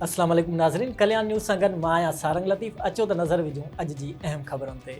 اسلام عليڪم ناظرين ڪليان نيوز سان گڏ مان آهيان سارنگ لطيف اچو ته نظر وجهون اڄ جي اهم خبرن تي.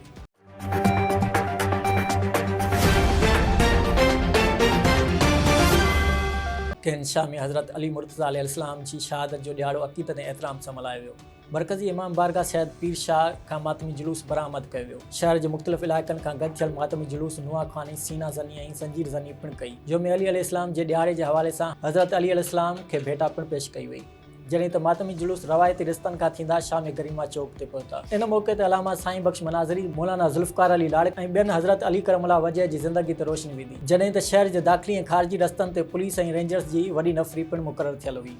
ڪين شاهه ۾ حضرت علي مرتضيٰ عليه السلام جي شهادت جو ڏهاڙو عقيدت ۽ احترام سان ملهايو ويو. مرڪزي امام بارگاهه سيد پير شاهه کان ماتمي جلوس برآمد ڪيو ويو. شهر جي مختلف علائقن کان گڏ ٿيل ماتمي جلوس نوحه خواني، سينا زني ۽ زنجير زني پڻ ڪئي. يوم علي عليه السلام جي ڏهاڙي جي حوالي سان حضرت علي عليه السلام کي ڀيٽا پڻ پيش ڪئي وئي جڏهن ته ماتمي جلوس روايتي رستن کان ٿيندا شام گريما چوڪ تي پهتا ان موقعي تي علامه سائين بخش مناظري، مولانا ذوالفقار علي لاڙڪ ۽ ٻين حضرت علي ڪرم الله وجه جي زندگي تي روشني وڌي جڏهن ته شهر جي داخلي ۽ خارجي رستن تي پوليس ۽ رينجرز جي وڏي نفري پڻ مقرر ٿيل هئي.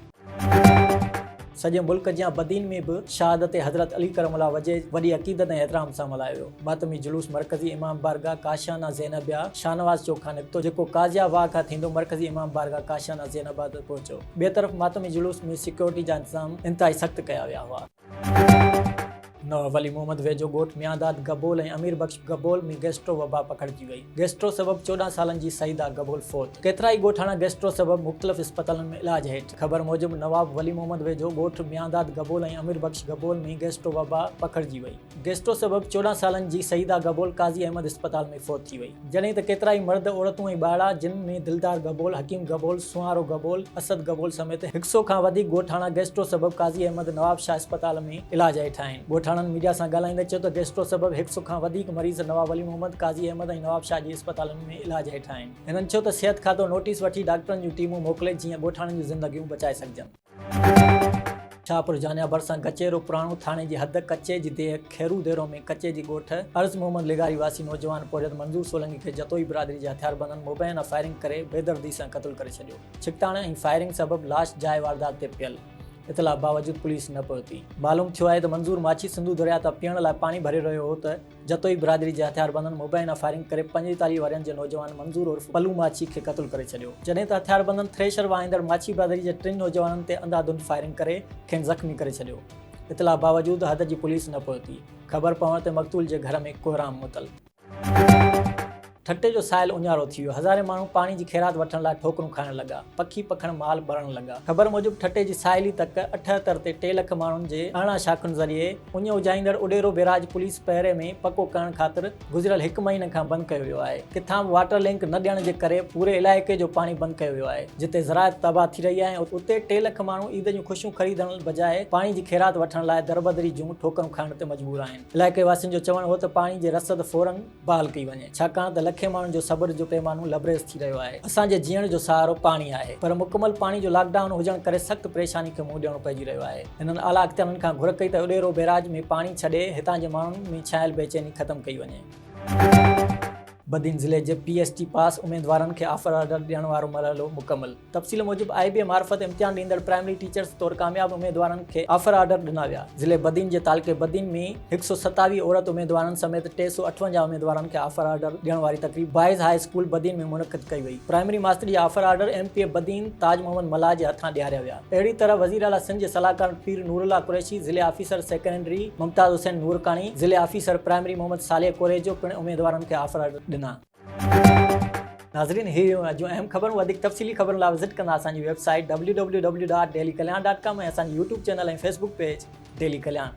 سڄي ملڪ جيان بدين ۾ به شهادت حضرت علي ڪرم الله وجهه وڏي عقيدت ۽ احترام سان ملهايو ويو. ماتمي جلوس مرڪزي امام بارگاهه ڪاشانه زينبيه شاهنواز چوڪ کان نڪتو جيڪو قاضيه واهه کان ٿيندو مرڪزي امام بارگاهه ڪاشانه زينبيه تي پهچو. ٻئي طرف ماتمي جلوس ۾ سيڪيورٽي جا انتظام انتهائي سخت ڪيا ويا هئا. نوح ولي محمد ويجهو ڳوٺ ميانداد گبول ۽ امير بخش گبول ۾ گيسٽرو وبا پکڙجي وئي. گيسٽرو سبب چوڏهن سالن جي سعيده گبول فوت. ڪيترائي ڳوٺاڻا گيسٽرو سبب مختلف اسپتالن ۾ علاج هيٺ. خبر موجب نواب ولي محمد ويجهو ڳوٺ ميانداد گبول ۽ امير بخش گبول ۾ گيسٽرو وبا پکڙجي وئي. گيسٽرو سبب چوڏهن سالن جي سعيده گبول قاضي احمد اسپتال ۾ فوت ٿي وئي، جڏهن ته ڪيترائي مرد، عورتون ۽ ٻارڙا جن ۾ دلدار گبول، حڪيم گبول، سونهارو گبول، اسد گبول سميت هڪ سئو کان وڌيڪ ڳوٺاڻا گيسٽرو سبب قاضي احمد نواب شاهه اسپتال ۾ علاج هيٺ آهن. ڳوٺاڻن ميڊيا سان ڳالهائيندي چيو ته گيسٽرو سبب هڪ سئو کان وڌيڪ مريض نواب ولي محمد، قاضي احمد ۽ نواب شاهه جي اسپتالن ۾ علاج هيٺ آهن. هنن چيو ته صحت کاتو نوٽيس وٺي ڊاڪٽرن جون ٽيمون موڪلي جيئن ڳوٺاڻن جون زندگيون بچائي سگهجن. شاهپور جانيا ڀرسان ڪچهرو پراڻو ٿاڻي جي حد ڪچي جي ديهه کيرو ديرو ۾ ڪچي جي ڳوٺ عرض محمد لغاري واسي نوجوان پورهيت منظور سولنگي کي جتوئي برادري جي هٿياربندن مبينا فائرنگ ڪري بيدردي سان قتل ڪري ڇڏيو ڇڪتاڻ ۽ فائرنگ سبب لاش جاء واردات تي پيل اطلاع باوجود پوليس نه پهتي معلوم ٿيو آهي ته منظور ماڇي سنڌو درياء تان پيئڻ لاء پاڻي ڀري رهيو هو ته جتوئي برادري جي هٿياربندن مبينا فائرنگ ڪري پنجيتاليهه ورهين جي نوجوان منظور عرف پلو ماڇي کي قتل ڪري ڇڏيو، جڏهن ته هٿياربندن ٿريشر واهيندڙ ماڇي برادري جي ٽن نوجوانن تي انڌا ڌنڌ فائرنگ ڪري کين زخمي ڪري ڇڏيو. اطلاع باوجود حد جي پوليس نه پهتي. خبر پوڻ تي مقتول جي گهر ۾ ڪوهرام متل. ٺٽي جو ساحل اڃارو ٿي ويو، هزارين ماڻهو پاڻي جي خيرات وٺڻ لاء ٺوڪرون کائڻ لڳا، پکي پکڻ مال ٻرڻ لڳا. خبر موجب ٺٽي جي ساحلي تڪ اٺهتر تي ٽي لک ماڻهن جي ارڙهن شاخن ذريعي اڃ اجهائيندڙ اڏيرو بيراج پوليس پهري ۾ پڪو ڪرڻ خاطر گذريل هڪ مهيني کان بند ڪيو ويو آهي، ڪٿان به واٽر لنڪ نه ڏيڻ جي ڪري پوري علائقي جو پاڻي بند ڪيو ويو آهي، جتي زراعت تباهه ٿي رهي آهي ۽ اتي ٽي لک ماڻهو عيد جون خوشيون خريدڻ بجاء پاڻي جي خيرات وٺڻ لاء دربدري جون ٺوڪرون کائڻ تي مجبور آهن. علائقي واسين جو چوڻ هو ته پاڻي جي رسد فورن بحال ڪئي وڃي ڇاڪاڻ ته لکين ماڻهن جو صبر جو پيمانو لبريز ٿي رهيو آهي اسان جي جيئڻ جو سهارو پاڻي آهي پر مڪمل پاڻي جو لاڪ ڊائون هجڻ ڪري سخت پريشاني کي منهن ڏيڻو پئجي رهيو آهي هنن اعليٰ اختيارين کان گهر ڪئي ته اڏيرو بيراج ۾ پاڻي ڇڏي هتان جي ماڻهن ۾ ڇانيل بيچيني ختم ڪئي وڃي. بدين ضلعي جي پي ايس ٽي پاس اميدوارن کي آفر آرڊر ڏيڻ وارو مرحلو مڪمل. تفصيل موجب آء بي اي معرفت امتحان ڏيندڙ پرائمري ٽيچرز طور ڪامياب اميدوارن کي آفر آرڊر ڏنا ويا، ضلعي بدين جي تعلقي بدين ۾ هڪ سؤ ستاويهه عورت اميدوارن سميت ٽي سؤ اٺونجاهه اميدوارن کي آفر آرڊر ڏيڻ واري تقريب بوائز هاء اسڪول بدين ۾ منعقد ڪئي وئي، پرائمري ماستر جا offer order M P A Badin Taj Muhammad Mallah جي هٿان ڏياريا ويا، اهڙي طرح وزير اعليٰ سنڌ جي صلاحڪار پير نورالله قريشي، ضلعي آفيسر سيڪنڊري ممتاز حسين نورڪاڻي، ضلعي آفيسر پرائمري محمد صالح ڪوريجو پڻ اميدوارن کي آفر آرڊر ڏنا. ناظرين هي هيون اڄ جون اهم خبرون وڌيڪ تفصيلي خبرن لاء وزٽ ڪندا اسان جي ويب سائيٽ www.dailykalyan.com ۽ اسان جي YouTube channel ۽ Facebook page daily Kalyan.